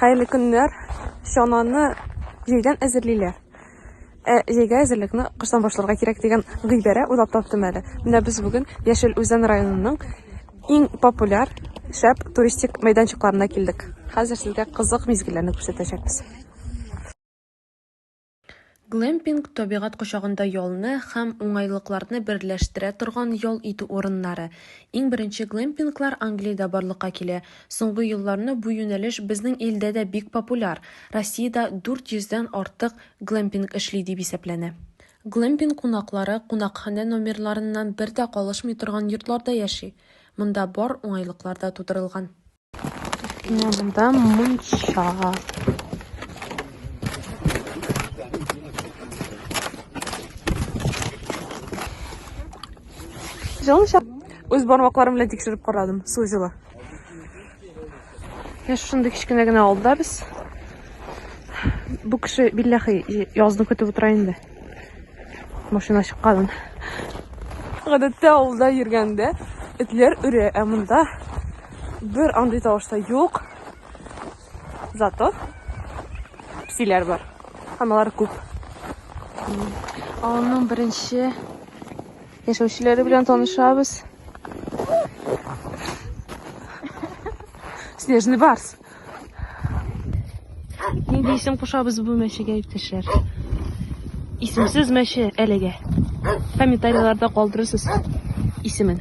Хәерле көннәр. Чананы җәйдән әзерлиләр. Ә җәйгә әзерлекне кыштан башларга кирәк дигән гыйбарә уйлап таптым әле. Менә без бүген Яшел Үзән районының иң популяр шәп туристик мәйданчыкларына килдек. Хәзер сезгә кызык мизгелләрне күрсәтәчәкбез. Глэмпинг, табигать кочагында ялны һәм уңайлыкларны берләштерә торган ял итү урыннары. Иң беренче глэмпинглар Англиядә барлыкка килә. Соңгы елларны бу юнәлеш безнең илдә дә бик популяр. Россиядә 400 дән артык глэмпинг эшли дип исәпләнә. Глэмпинг кунаклары кунакханә номерларыннан бер дә калышмый торган йортларда яши. Монда бар уңайлыклар да тудырылган. Менә монда мунча. Җылыша. Үз бармакларым белән тикшереп карадым, су җылы. Я шундый кечкенә генә алда без. Бу кеше билләхи язны көтеп утыра инде. Машина чыкканын. Гадәттә авылда йөргәндә этләр өрә, ә монда Бер андый тавыш та юк. Зато псиләр бар. Һәм алар күп. Авылның беренче яшәүчеләре белән танышабыз. Снежный барс. Нинди исем кушабыз бу мәчегә, иптәшләр? Исемсез мәче әлегә. Комментарийларда калдырырсыз исемен.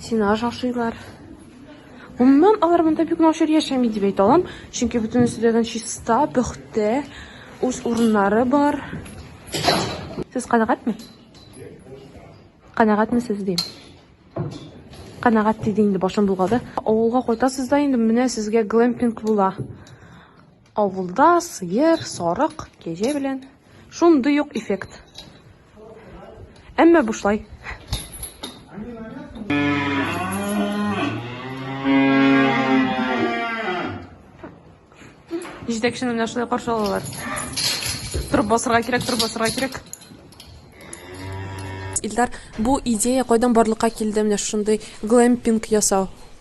Сине ашашыйлар. Гомумән, алар монда бик начар яшәми дип әйтә алам, чөнки бөтенесе дә чиста, пөхтә, үз урыннары бар. Сез канәгатьме? Канәгатьме сез дим? Канәгать диде инде башым булгады. Авылга кайтасыз да инде менә сезгә глэмпинг була. Авылда сыер, сарык, кәҗә белән шундый ук эффект. Әмма бушлай. Җитәкчене менә шулай каршы алалар. Торып басырга кирәк, торып басырга кирәк. Илдар, бу идея кайдан барлыкка килде? Менә шундый глэмпинг ясау.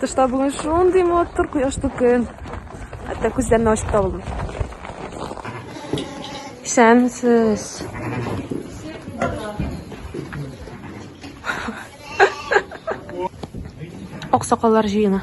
Тышта бүген шундый матур кояшлы көн. Хәтта күзләрне ачып та булмый. Исәнсез. Аксакаллар җыены.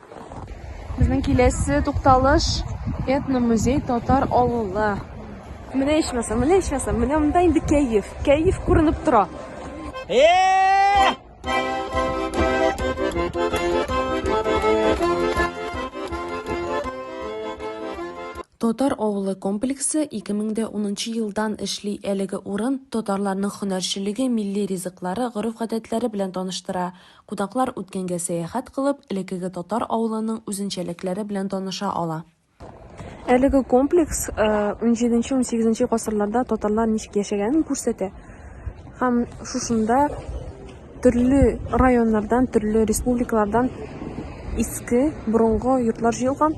Безнең киләсе тукталыш этномузей татар авылы. Менә ичмаса, менә ичмаса, менә монда инде кәеф. Кәеф күренеп тора. Татар авылы комплексы 2010 елдан эшли. Әлеге урын татарларның һөнәрчелеге, милли ризыклары, гореф-гадәтләре белән таныштыра. Кунаклар үткәнгә сәяхәт кылып, элеккеге татар авылының үзенчәлекләре белән таныша ала. Әлеге комплекс XVII-XVIII э, гасырларда татарлар ничек яшәгәнен күрсәтә. Һәм шушында төрле районнардан, төрле республикалардан иске, борынгы йортлар җыелган.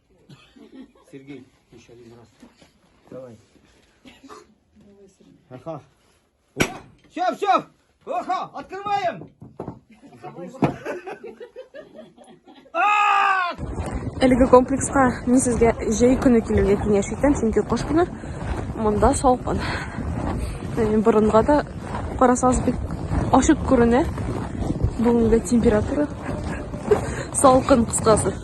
Сергей, еще один раз. Давай. Давай, Сергей. Ага. Все, все! Ага, открываем! Әлеге комплекска мин сезгә җәй көне килергә киңәш итәм, чөнки кыш көне монда салкын. Яни борынга да карасагыз бик ашык күренә. Бүгенге температура салкын кыскасы.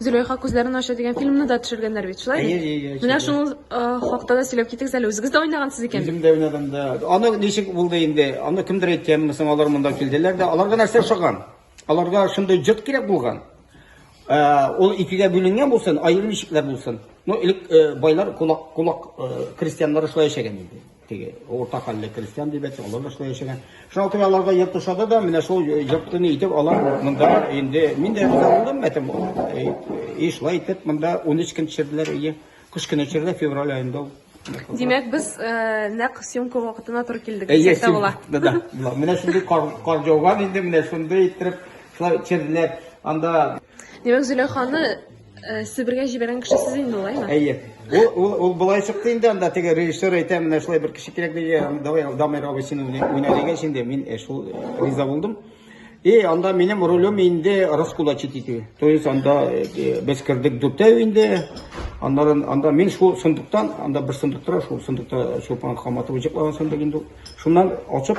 Зөләйха күзләрен ача дигән фильмны да төшергәннәр бит, шулай бит? Әйе, әйе. Менә шуның хакта да сөйләп китегез әле. Үзегез дә уйнагансыз икән. Үзем дә уйнадым да. Аны ничек булды инде? Аны кемдер әйткәнме соң, алар монда килделәр дә. Аларга нәрсә ошаган? Аларга шундый җот кирәк булган. Ул икегә бүленгән булсын, аерым ишекләр булсын. Ну, элек байлар, кулак, кулак крестьяннары шулай яшәгән инде. Теге урта хәлле крестьян дип әйтсәк, алар да шулай яшәгән. Шуңа күрә аларга йорт ошады да, менә шул йортны итеп алар монда инде мин дә риза булдым, әтем и шулай итеп монда 13 көн төшерделәр өйгә. Кыш көне төшерде, февраль аенда ул. Димәк, без э, нәкъ съемка вакытына туры килдек. Әйе, дисәк тә була. да, да, була. Менә шундый кар, кар жауган инде, менә шундый иттереп, шулай төшерделәр. Анда Димәк, Зөләйханы э, Себергә җибәргән кеше сез инде алаймы? Әйе. Ул, ул, ул былай чыкты инде анда теге режиссер әйтә, менә шулай бер кеше кирәк диде, давай Дамир абый син уйна уйна дигәч инде мин э, шул э, риза булдым. И анда минем ролем инде раскулачить итү. То есть анда э, э, без кердек дүртәү инде. Аннан анда мин шул сундуктан, анда бер сундук тора, шул сундукта Чулпан Хаматова җыклаган сундук инде. ул. Шуннан ачып